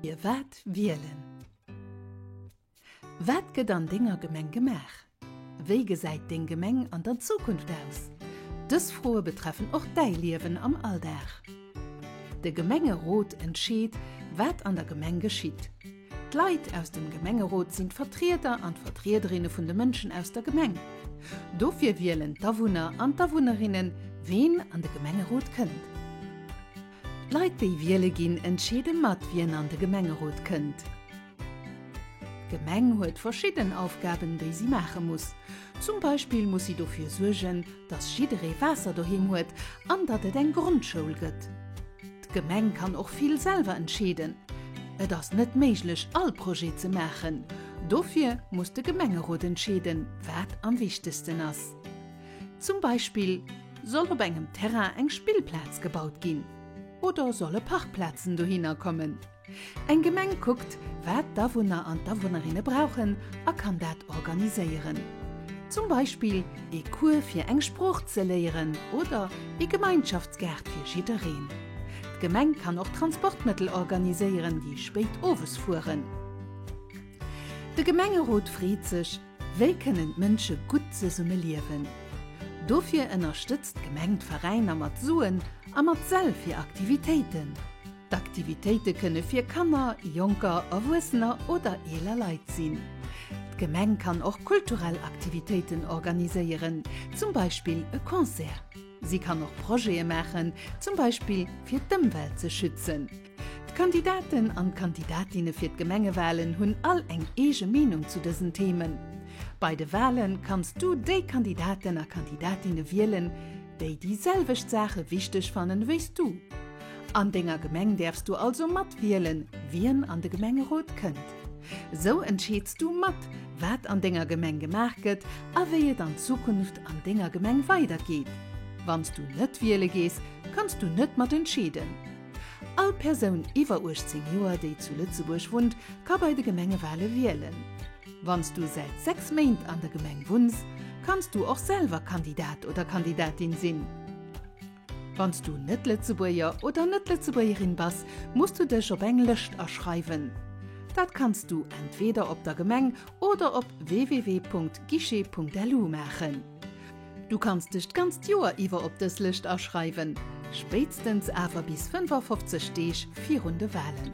Dir waert wielen. Wat gëtt an denger Gemeng gemaach? Wéi gesäit deng Gemeng an der Zukunft aus? Dës Froe betreffen och däi Liewen am Alldag. De Gemengerot entscheet, wat an der Gemeng geschitt. D'Leit aus dem Gemengerot sinn d'Vertrieder an d'Vertriederinne vun de Mënschen aus der Gemeng. Dofir wielen d'Awunner an d'Awunnerinnen, ween an de Gemengerot kënnt. D'Leit déi wiele ginn, entscheede mat, wien an de Gemengerot kënnt. D'Gemeng huet verschidden Aufgaben, déi si maache muss. Zum Beispill muss si dofir suergen, datt jidderee Waasser doheem huet an datt et eng Grondschoul gëtt. D'Gemeng kann och vill selwer entscheeden. Et ass net méiglech all Projet ze maachen. Dofir muss de Gemengerot entscheeden, wat am wichtegsten ass. Zum Beispill soll op engem Terrain eng Spillplaz gebaut ginn oder solle Parkplazen dohinner kommen. Eng Gemeng kuckt, wat d'Awunner an d'Awunnerinne brauchen a kann dat organiséieren. Zum Beispill ee Cours fir eng Sprooch ze léieren oder ee Gemeinschaftsgaart fir jiddereen. D'Gemeng kann och Transportmëttel organiséieren, déi spéit owes fueren. De Gemengerot freet sech, Wéi kënnen d'Mënsche gutt zesumme liewen? Dofir ënnerstëtzt d'Gemeng d'Veräiner mat Suen a mat Säll fir Aktivitéiten. D'Aktivitéite kënne fir Kanner, Jonker, Erwuessener oder eeler Leit sinn. D'Gemeng kann och kulturell Aktivitéiten organiséieren, zum Beispill e Concert. Si kann och Projete maachen, zum Beispill fir d'Ëmwelt ze schützen. D'Kandidaten an d'Kandidatinne fir d'Gemengewalen hunn all eng eege Meenung zu dësen Themen. Bei de Wale kanns du déi Kandidaten a Kandidatinne wielen, déi déi selwecht Saache wichteg fannen wéis du. An denger Gemeng däerfs du also mat wielen, wien an de Gemengerot kënnt. Sou entscheeds du mat, wat an denger Gemeng gemaach gëtt a wéi et an Zukunft an denger Gemeng weidergeet. Wanns du net wiele gees, kanns du net mat entscheeden. All Persoun iwwer 18 Joer, déi zu Lëtzebuerg wunnt, ka bei de Gemengewale wielen. Wann s du säit 6 Méint an der Gemeng wunns, kanns du och selwer Kandidat oder Kandidatin sinn. Wann s du net Lëtzebuerger oder net Lëtzebuergerin bass, muss du dech op eng Lëscht aschreiwen. Dat kanns du entweeder op der Gemeng oder op www.guichet.lu maachen. Du kanns dech d'ganzt Joer iwwer op dës Lëscht aschreiwen, spéitstens awer bis 55 Deeg virun de Walen.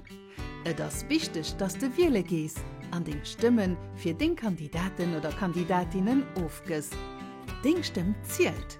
Et ass wichteg, dass de wiele gees an deng Stëmme fir deng Kandidaten oder Kandidatinnen ofgëss. Deng Stëmm zielt!